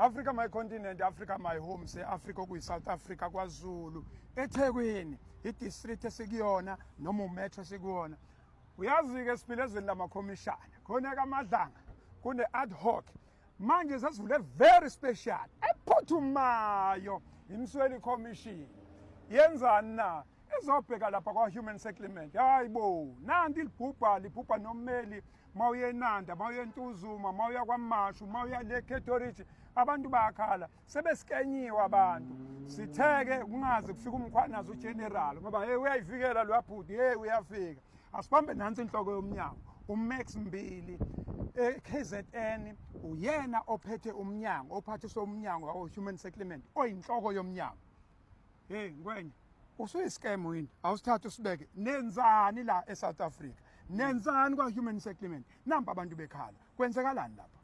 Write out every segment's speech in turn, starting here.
Africa my continent, Africa my home, se Africa okuyi South Africa kwaZulu, eThekwini, idistrict esikuyona noma umetro esikuyona. Uyazi ke siphile ezweni lamakhomishana. Khona kaMadlanga kune ad hoc. Manje sesivule very special ephuthumayo imsweli commission. Yenzani na? ezobheka lapha kwa-human settlement hayi bo nanti libhubha libhubha nommeli uma uye enanda uma uye entuzuma uma uya kwamashu uma uya le catorage abantu bayakhala sebesikenyiwe abantu sitheke kungaze kufike umkhwanazi ugeneral ngoba hey uyayivikela lo abhuti hey uyafika asibambe nansi inhloko yomnyango umax mbili eKZN uyena ophethe umnyango ophathiswa umnyango wawo human settlement oyinhloko yomnyango Hey ngwenya usuyi-scam wini awusithathe usibeke nenzani la e-south africa nenzani kwa-human settlement nampa abantu bekhala kwenzekalani lapha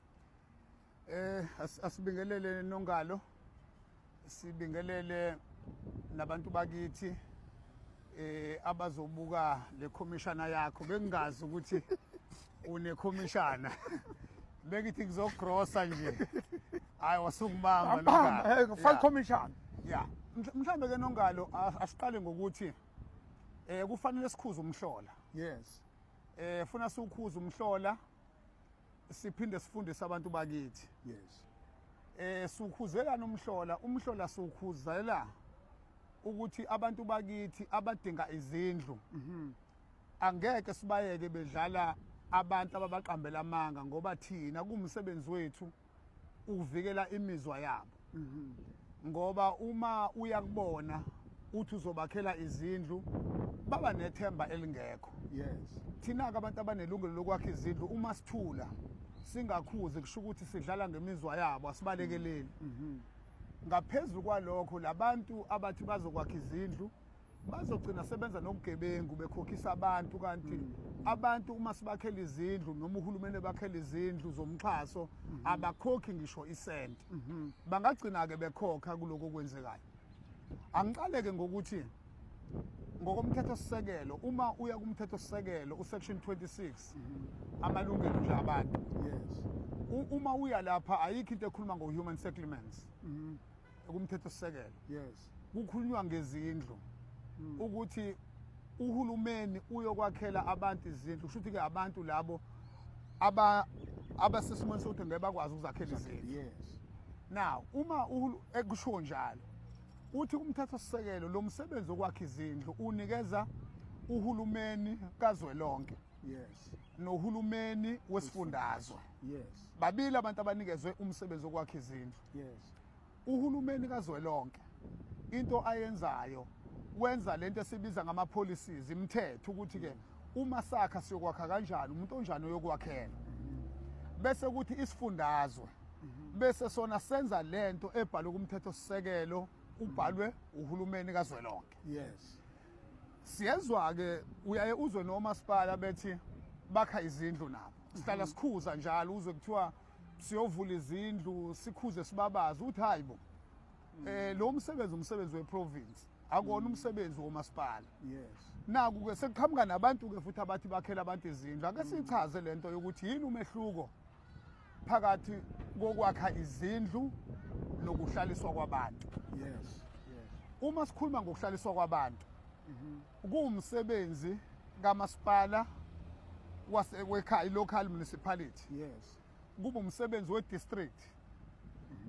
eh asibingelele nongalo sibingelele nabantu bakithi eh abazobuka le commissioner yakho bengingazi ukuthi une commissioner Bengithi ngizogrosa nje. Hayi wasukubamba Ambamba, eh, file commission. Yeah. Mhl- Mhlambe ke nongalo a- asiqale ngokuthi eh kufanele sikhuze umhlola. Yes. Eh funa siwukhuze umhlola siphinde sifundise abantu bakithi. Yes. Eh siwukhuzelana umhlola, umhlola siwukhuzela ukuthi abantu bakithi abadinga izindlu Angeke sibayeke bedlala abantu ababaqambela amanga ngoba thina kumsebenzi wethu ukuvikela imizwa yabo. Mhm. Ngoba uma uya kubona uthi uzobakhela izindlu baba nethemba elingekho. Yes. Thina ke abantu abanelungelo lokwakha izindlu uma sithula singakhuzi kusho ukuthi sidlala ngemizwa yabo asibalekeleli. Mhm. Ngaphezulu kwalokho labantu abathi bazokwakha izindlu bazogcina sebenza nobugebengu bekhokhisa abantu kanti mm. abantu uma sibakhela izindlu noma uhulumeni ebakhela izindlu zomxhaso mm -hmm. abakhokhi ngisho isenti mm -hmm. bangagcina-ke bekhokha kuloko okwenzekayo angiqaleke ngokuthi ngokomthethosisekelo uma uya kumthethosisekelo usection 26 mhm. amalungelo nje abantu yes uma uya lapha ayikho into ekhuluma ngo-human settlements mhm. kumthethosisekelo yes kukhulunywa ngezindlu hmm. ukuthi uhulumeni uyokwakhela abantu izindlu kusho ukuthi-ke abantu labo aba abasesimweni sokuthi ngeke bakwazi ukuzakhela izindlu yes now uma ekusho njalo uthi umthethosisekelo lo msebenzi wokwakha izindlu unikeza uhulumeni kazwelonke yes nohulumeni wesifundazwe yes babili abantu abanikezwe umsebenzi wokwakha izindlu yes Uhulumeni kazwelonke into ayenzayo wenza lento esibiza ngama policies imithetho ukuthi ke uma sakha siyokwakha kanjani umuntu onjani oyokwakhela bese ukuthi isifundazwe bese sona senza lento ebhalwe kumthetho sisekelo ubhalwe uhulumeni kazwelonke yes siyezwa ke uyaye uzwe nomasipala bethi bakha izindlu nabo sihlala sikhuza njalo uzwe kuthiwa siyovula izindlu sikhuze sibabaze ukuthi hayi bo mm. eh lo msebenzi umsebenzi weprovince akona mm. umsebenzi womasipala yes naku ke sekuqhamuka nabantu ke futhi abathi bakhela abantu izindlu ake mm. sichaze lento yokuthi yini umehluko phakathi kokwakha izindlu nokuhlaliswa kwabantu yes yes uma sikhuluma ngokuhlaliswa kwabantu mm-hmm. Kuwumsebenzi kamasipala wasekhaya local municipality. Yes. Kuba umsebenzi we district.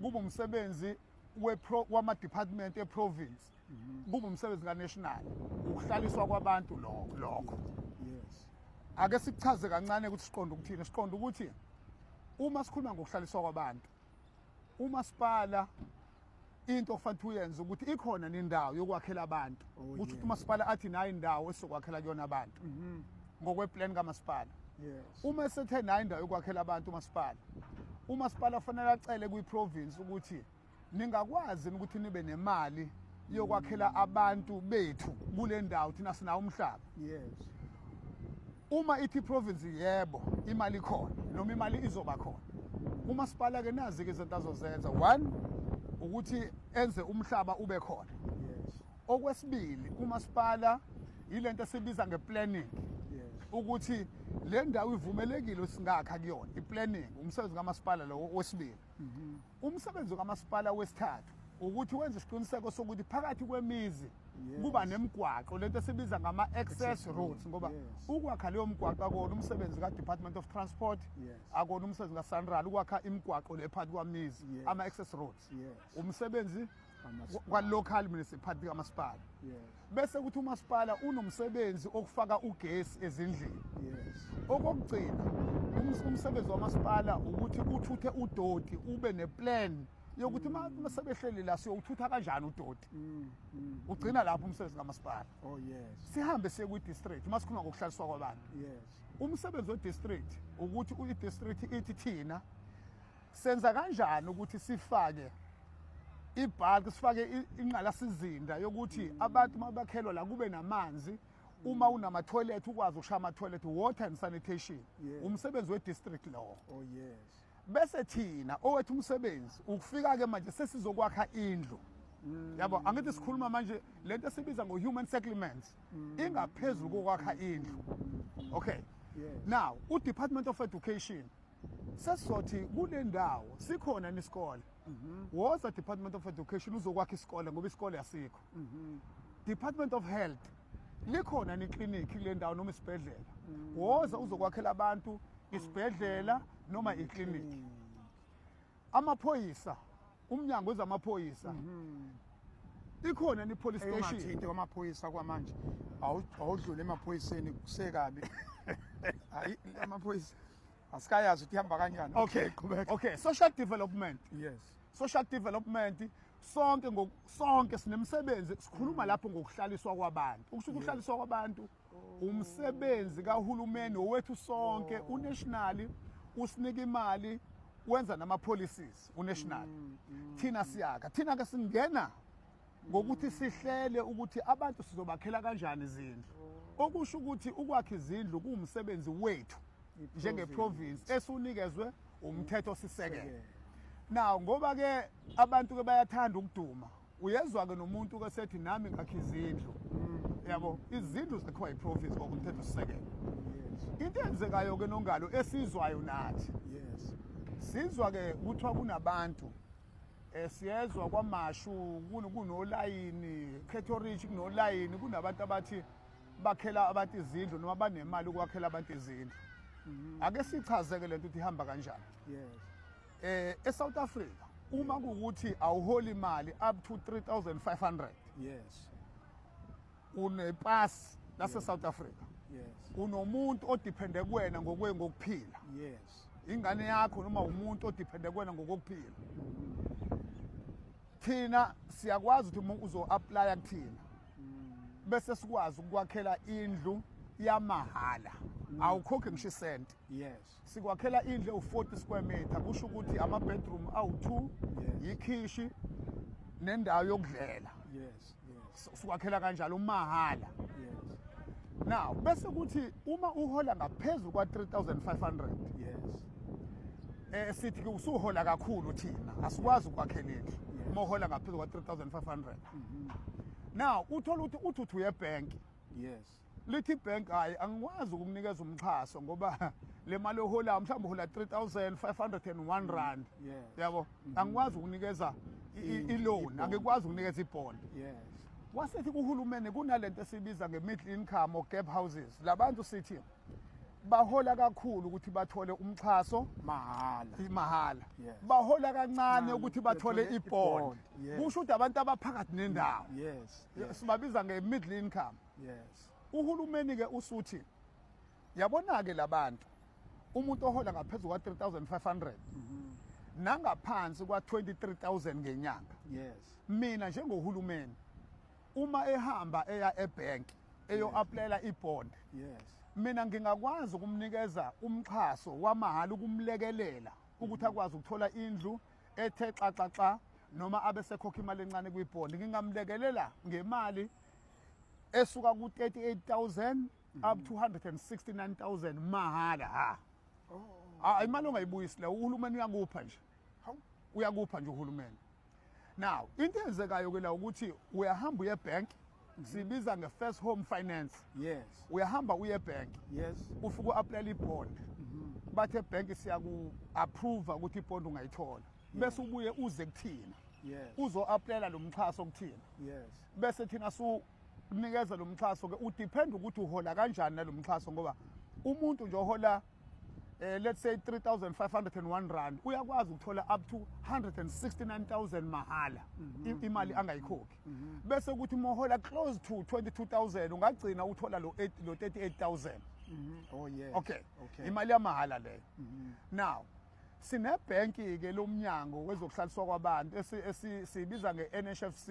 Kuba umsebenzi we pro wama department e province. Mhm. Kuba umsebenzi ka national. Ukuhlaliswa kwabantu lokho lokho. Yes. Ake sikuchaze kancane ukuthi siqonda ukuthini. Siqonda ukuthi uma sikhuluma ngokuhlaliswa kwabantu umasipala into okufanele uyenze ukuthi ikhona nendawo yokwakhela abantu oh, ukuthi ukuthi umasipala athi nayo indawo esizokwakhela kuyona abantu mhm. ngokweplan kamasipala uma esethe nayo indawo yokwakhela abantu umasipala umasipala fanele acele kwi-province ukuthi ningakwazi ukuthi nibe nemali yokwakhela abantu bethu kule ndawo thina sinawo umhlaba yes Uma ithi iprovince yebo imali ikhona noma imali izoba khona. Umasipala ke nazi ke izinto azozenza. One ukuthi enze umhlaba ube khona. Yes. Okwesibili umasipala yilento esibiza ngeplanning. Yes. Ukuthi le ndawo ivumelekile singakha kuyona iplanning umsebenzi kamasipala lo wesibili. Mhm. Umsebenzi kamasipala wesithathu ukuthi wenze isiqiniseko sokuthi phakathi kwemizi kuba nemigwaqo lento esibiza ngama access roads ngoba ukwakha leyo migwaqo akona umsebenzi ka Department of Transport akona umsebenzi ka Sanral ukwakha imigwaqo le phakathi kwamizi ama access roads umsebenzi kwa-local municipality kamasipala bese kuthi umasipala unomsebenzi okufaka ugesi ezindlini okokugcina umsebenzi wamasipala ukuthi uthuthe udoti ube neplan yokuthi uma mm. sebehleli la siyowuthutha kanjani udoti mm, mm, ugcina lapho umsebenzi kamasipala oh, sihambe siye kwi-district uma sikhuluma ngokuhlaliswa kwabantu umsebenzi we-district ukuthi i-district ithi thina Senza kanjani ukuthi sifake ibulk sifake inqalasizinda yokuthi abantu mabakhelwa la kube namanzi uma unama toilet ukwazi ukushaya ama toilet water and sanitation umsebenzi we district law oh yes bese thina owethu umsebenzi ukufika ke manje sesizokwakha indlu mm. yabo angithi sikhuluma manje lento esibiza ngo human settlements mm. ingaphezulu kokwakha indlu okay now u department of education sesizothi kule ndawo sikhona nisikole mhm. woza department of education uzokwakha isikole ngoba isikole asikho mhm. department of health likhona neklinikhi kule ndawo noma isibhedlela mm. woza uzokwakhela abantu isibhedlela noma iklinikhi Amaphoyisa, umnyango wezamaphoyisa. Mhm. Ikhona ni police station. Eyeshinto kwamaphoyisa kwamanje. Awudlule emaphoyiseni kusekabi. Hayi amaphoyisa asikayazi ukuthi ihamba kanjani. Okay, qhubeka. Okay, social development. Yes. Social development sonke sonke sinemsebenzi sikhuluma mm. lapho ngokuhlaliswa kwabantu ukusho ukuhlaliswa kwabantu umsebenzi kahulumeni owethu sonke oh. unational usinika imali wenza nama policies unational mm, mm, thina mm. siyaka thina ke singena ngokuthi sihlele ukuthi abantu sizobakhela kanjani izindlu oh. okusho ukuthi ukwakha izindlu kuwumsebenzi wethu njenge province esunikezwe umthetho sisekelo now ngoba ke abantu ke bayathanda ukuduma uyezwa ke nomuntu ke sethi nami ngakhe izindlu yabo izindlu zakhiwa yiprofit ngokomthetho sisekelo into eyenzekayo ke nongalo esizwayo nathi yes sizwa ke kuthiwa kunabantu eh, siyezwa kwamashu kunolayini catherich kunolayini kunabantu abathi bakhela abantu izindlu noma banemali ukwakhela abantu izindlu mm-hmm. ake sichazeke lento ukuthi ihamba kanjani yes eh eSouth Africa uma kukuthi awuhola imali up to 3500 yes une pass lase South Africa yes unomuntu odepende kuwena ngokwe ngokuphila yes ingane yakho noma umuntu odepende kuwena ngokokuphila thina siyakwazi ukuthi uma uzo-aplaya kuthina bese sikwazi ukukwakhela indlu yamahhala awukhokhe ngisho isenti yes Sikwakhela indle u-40 square meter kusho ukuthi ama-bedroom awu-2 yikhishi nendawo yokudlela. Yes, yes. Sikwakhela kanjalo umahhala. Yes. Now bese kuthi uma uhola ngaphezulu kwa-3500 Yes. eh sithi ke usuhola kakhulu thina asikwazi ukwakhela indlu uma uhola ngaphezulu kwa-3500 now uthola ukuthi uthi uthi uye ebhenki Yes. lithi ibhenki hhayi angikwazi ukukunikeza umxhaso ngoba le mali oholayo mhlawumbe uhola 3501 mm, rand yabo mm-hmm. angikwazi ukunikeza mm, iloan angikwazi ukunikeza ibond wasethi kuhulumeni kunale nto esibiza nge-middle income or gap houses labantu sithi bahola kakhulu ukuthi bathole umxhaso mahhala mahhala yes. bahola kancane ukuthi bathole ibond kusho ukuthi abantu abaphakathi nendawo yes. yes. sibabiza nge-middle income yes uhulumeni ke usuthi yabona ke labantu umuntu ohola ngaphezulu kwa 3500 mhm. nangaphansi kwa 23000 ngenyanga yes mina njengohulumeni uma ehamba eya ebank eyo applyela ibond yes mina ngingakwazi ukumnikeza umxhaso wamahhala ukumlekelela ukuthi mhm. akwazi ukuthola indlu ethe xaxaxa noma abe sekhokha imali encane kwibond ngingamlekelela ngemali esuka ku 38000 up to 169000 mahhala ha oh. ah, imali ongayibuyisi la uhulumeni uyakupha nje uyakupha nje uhulumeni now into enzekayo ke la ukuthi uyahamba uye bank mm-hmm. sibiza nge first home finance yes uyahamba uye bank yes ufike uapply i bond mm-hmm. bathe bank siyaku approve ukuthi i bond ungayithola bese ubuye uze kuthina uzo-aplayela lo mxhaso okuthina yes bese thina su kunikeza lo mxhaso ke udepend ukuthi uhola kanjani nalo mxhaso ngoba umuntu nje ohola eh, let's say 3501 rand uyakwazi ukuthola up to 169000 mahhala mm -hmm. imali mhm. angayikhokhi mm -hmm. bese ukuthi mohola close to 22000 ungagcina uthola lo lo 38000 mm -hmm. oh yes okay, okay. imali yamahhala leyo mm -hmm. now sinebhenki ke lomnyango wezokuhlaliswa kwabantu esibiza nge-NHFC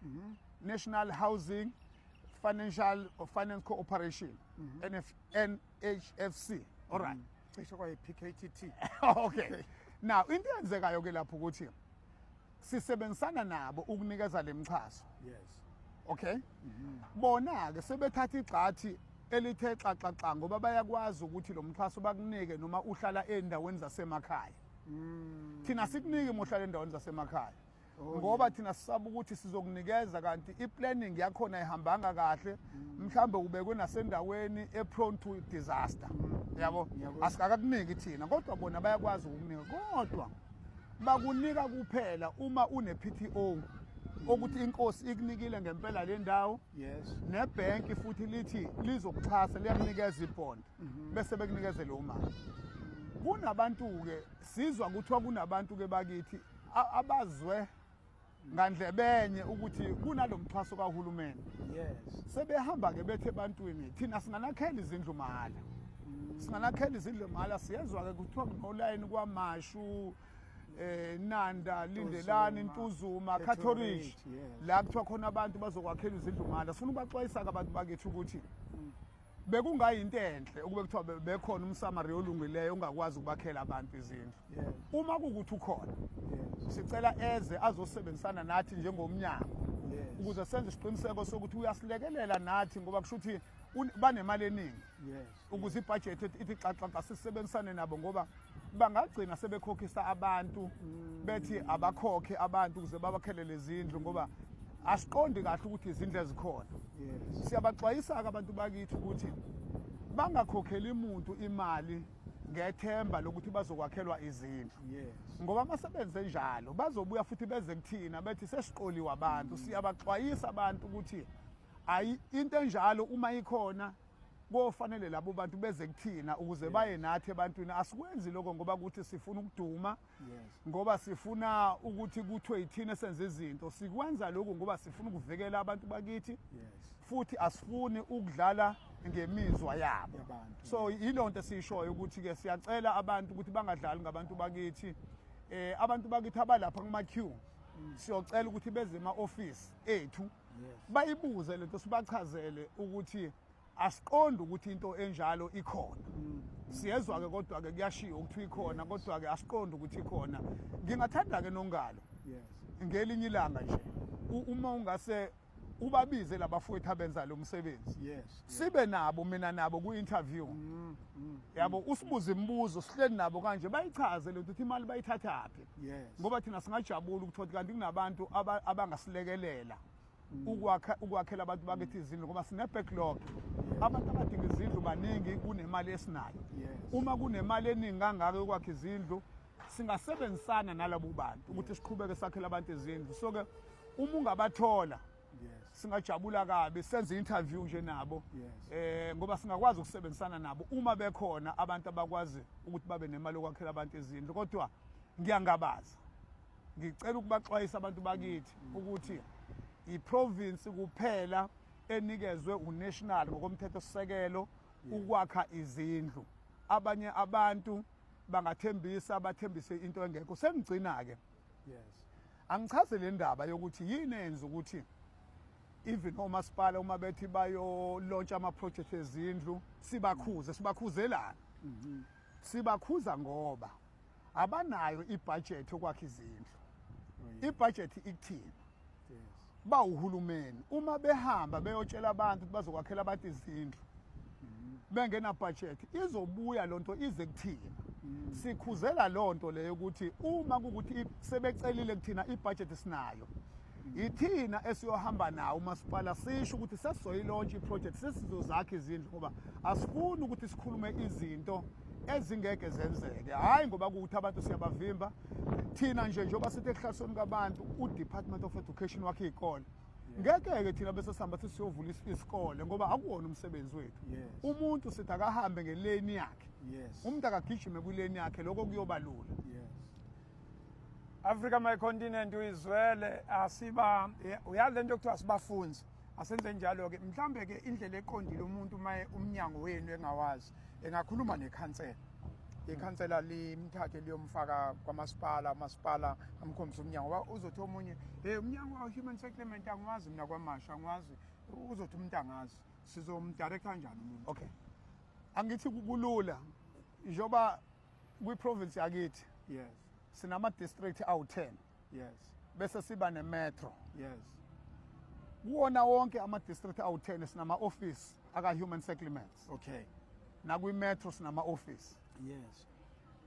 mm -hmm. National Housing Financial or Finance Cooperation mm -hmm. NF, NHFC all right mm -hmm. cishe kwaye PKTT okay now into eyenzekayo ke lapho ukuthi sisebenzisana nabo ukunikeza lemixhaso yes okay mm -hmm. bona ke sebethatha igxathi elithe xaxaxa ngoba bayakwazi ukuthi lo mxhaso bakunike noma uhlala endaweni zasemakhaya mm. thina sikunike mohlala endaweni zasemakhaya Oh, ngoba thina sisaba ukuthi sizokunikeza kanti i-planning yakhona ihambanga kahle mm. mhlambe ubekwe nasendaweni e-prone to disaster mm. yabo asikakakuniki thina kodwa bona bayakwazi ukukunika kodwa bakunika kuphela uma une-pto okuthi inkosi ikunikile ngempela le ndawo yes nebhenki futhi lithi lizokuxhasa liyakunikeza ibond mhm. bese bekunikeze lo mali kunabantu-ke sizwa kuthiwa kunabantu-ke bakithi abazwe ngandlebenye ukuthi kunalomxhaso kahulumeni yes sebehamba ke bethe ebantwini thina singanakhela izindlu mahala mm. singanakhela izindlu mahala siyezwa ke kuthiwa kunolayini kwamashu eh Nanda Lindelani Ntuzuma Catholic la kuthiwa khona abantu bazokwakhela izindlu mahala sifuna ubaxwayisa ke abantu bakithi ukuthi bekungayinto enhle ukube kuthiwa bekhona umsamariya olungileyo ongakwazi ukubakhela abantu izindlu uma kukuthi ukhona sicela eze azosebenzisana nathi njengomnyango ukuze senze isiqiniseko sokuthi uyasilekelela nathi ngoba kusho ukuthi banemali eningi ukuze ibhajethi ithi xaxaxa sisebenzisane nabo ngoba bangagcina sebekhokhisa abantu bethi abakhokhe abantu ukuze babakhele lezindlu ngoba asiqondi kahle ukuthi izindlu ezikhona siyabaxwayisa-ke abantu bakithi ukuthi bangakhokheli muntu imali ngethemba lokuthi bazokwakhelwa izindlu ngoba uma sebenze njalo bazobuya futhi beze kuthina bethi sesiqoliwe abantu siyabaxwayisa abantu ukuthi ayi into enjalo uma ikhona kofanele labo bantu beze kuthina ukuze yes. baye nathi ebantwini asikwenzi lokho ngoba ukuthi sifuna ukuduma yes. ngoba sifuna ukuthi kuthiwe yithina senze izinto sikwenza lokhu ngoba sifuna ukuvikela abantu bakithi yes. futhi asifuni ukudlala ngemizwa yabo so yilo nto esiyishoyo ukuthi-ke siyacela abantu ukuthi bangadlali ngabantu bakithi eh abantu bakithi abalapha kuma-q mm. siyocela ukuthi beze ema-ofisi ethu bayibuze lento sibachazele ukuthi asiqondi ukuthi into enjalo ikhona mm. siyezwa ke kodwa ke kuyashiya ukuthi ikhona kodwa ke asiqondi ukuthi ikhona ngingathanda ke nongalo ngelinye ilanga nje uma ungase ubabize labafowethu abenza lo msebenzi yes sibe nabo mina nabo ku interview mm, mm, yabo usibuze imibuzo sihleli nabo kanje bayichaze lento ukuthi imali bayithathaphi yes. ngoba thina singajabula ukuthi othi kanti kunabantu abangasilekelela mm. ukwakha ukwakhela abantu bakithi izindlu ngoba sine backlog abantu abadinga izindlu baningi kunemali esinayo uma kunemali eningi kangaka yokwakha izindlu singasebenzisana nalabo bantu ukuthi siqhubeke sakhele abantu izindlu so ke uma ungabathola yes. singajabula kabi senze interview nje nabo yes. eh ngoba singakwazi ukusebenzisana nabo uma bekhona abantu abakwazi ukuthi babe nemali okwakhela abantu izindlu kodwa ngiyangabaza ngicela ukubaxwayisa abantu bakithi mm. ukuthi iprovince kuphela enikezwe unational ngokomthetho sisekelo ukwakha izindlu abanye abantu bangathembisa bathembise into engekho sengigcina ke yes angichaze le ndaba yokuthi yini enza ukuthi even omasipala uma bethi bayolontsha ama-project ezindlu sibakhuze sibakhuzelani mhm. sibakhuza ngoba abanayo ibhajethi yokwakha izindlu oh, ibhajethi ikuthina ba uhulumeni uma behamba beyotshela abantu ukuthi bazokwakhela abantu izindlu bengena budget izobuya lonto ize kuthina mm. sikhuzela lonto leyo ukuthi uma ukuthi sebecelile kuthina ibudget sinayo mm. yithina esiyohamba nawo umasipala sisho ukuthi sesizoyilaunch iproject sesizozakha izindlu ngoba asifuni ukuthi sikhulume izinto ezingeke zenzeke hhayi ngoba kuwukuthi abantu siyabavimba thina nje njengoba sithi ehlahlweni kabantu udepartment of education wakhe iy'kole ngeke-ke thina bese sihamba sithi siyovula isikole ngoba akuwona umsebenzi wethu umuntu sithi akahambe ngeleni yakhe umuntu akagijime kwileni yakhe lokho kuyoba lula africa my continent uyizwele asiba uyale nto yokuthiwa sibafunzi asenze njalo-ke mhlawumbe-ke indlela eqondile umuntu uma umnyango wenu engawazi engakhuluma nekhansela ikhansela limthathe liyomfaka kwamasipala umasipala amkhombise umnyango uzothi omunye hey umnyango wa-human settlement angiwazi mina kwamasha angiwazi uzothi umuntu angazi sizomdirektha njani umuntu okay angithi kulula njengoba kwi-province yakithi yes sinama-district awu-10 yes bese siba ne-metro yes kuwona wonke ama-district awu-10 sinama-ofisi aka-human settlements okay nakwi-metro sinama-ofisi yes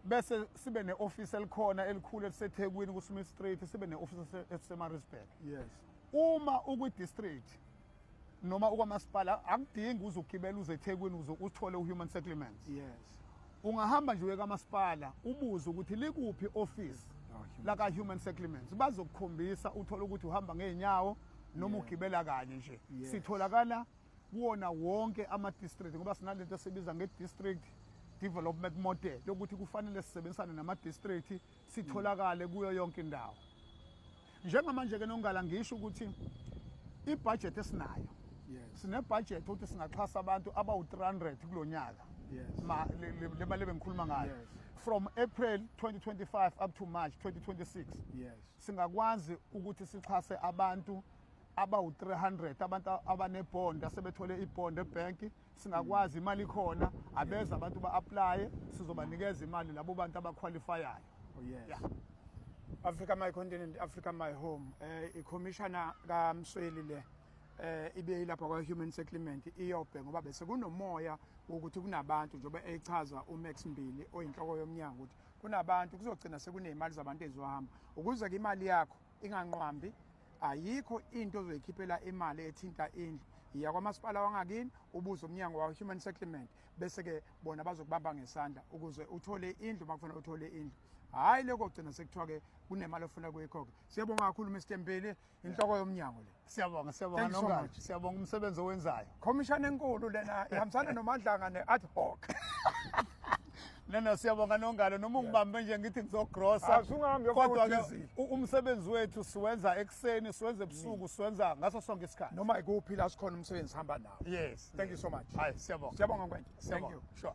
bese sibe ne-ofisi elikhona elikhulu elisethekwini kusmith street sibe ne-ofisi esemarisburg yes uma ukwi-district noma ukwamasipala akudingi uze ugibele uze ethekwini uze uthole u-human settlements yes ungahamba nje uye kamasipala ubuze ukuthi likuphi office oh, laka-human settlements bazokukhombisa uthole ukuthi uhamba ngey'nyawo noma ugibela kanye nje sitholakala kuwona wonke ama-district ngoba sinale nto esibiza nge-district development model yokuthi kufanele sisebenzisane nama-district sitholakale kuyo yonke indawo njengamanje ke nongala ngisho ukuthi ibudget esinayo yes. sinebudget ukuthi singaxhasa abantu abawu-300 kulo nyaka yes. ma le mali ebengikhuluma ngayo yes. from april 2025 up to march 2026 yes. singakwazi ukuthi sixhase abantu abawu-300 abantu abanebond asebethole ibond ebhenki singakwazi imali ikhona abeza abantu ba-aplaye sizobanikeza imali labo bantu abakhwalifayayo oh, yes. yeah. africa my continent africa my home eh, ikhomishana kamsweli le eh ibe ilapha kwa human settlement iyobhe ngoba bese kunomoya ukuthi kunabantu njengoba echaza uMax Mbili oyinhloko yomnyango ukuthi kunabantu kuzogcina sekunemali zabantu ezizohamba ukuze ke imali yakho inganqwambi ayikho into ozoyikhiphela imali ethinta indlu yiya kwamasipala wangakini ubuze umnyango wa-human settlement bese-ke bona bazokubamba ngesandla ukuze uthole indlu uma kufanele uthole indlu hhayi lokho gcina sekuthiwa-ke kunemali ofuna kuyikho-ke siyabonga kakhulu mr mpili inhloko yomnyango le siyabonga siyabonga nongathi siyabonga umsebenzi owenzayo khomishana enkulu lena ihambisana nomadlanga ne-ad hoc Nana siyabonga nongalo noma ungibambe nje ngithi ngizogrosa. Asungahambi kodwa ke umsebenzi wethu siwenza ekseni, siwenza ebusuku, mm. siwenza ngaso sonke isikhathi. Noma ikuphi la sikhona umsebenzi hamba nawo. Yes. Thank you so much. Hayi siyabonga. Siyabonga mfethu. Thank you. Sure.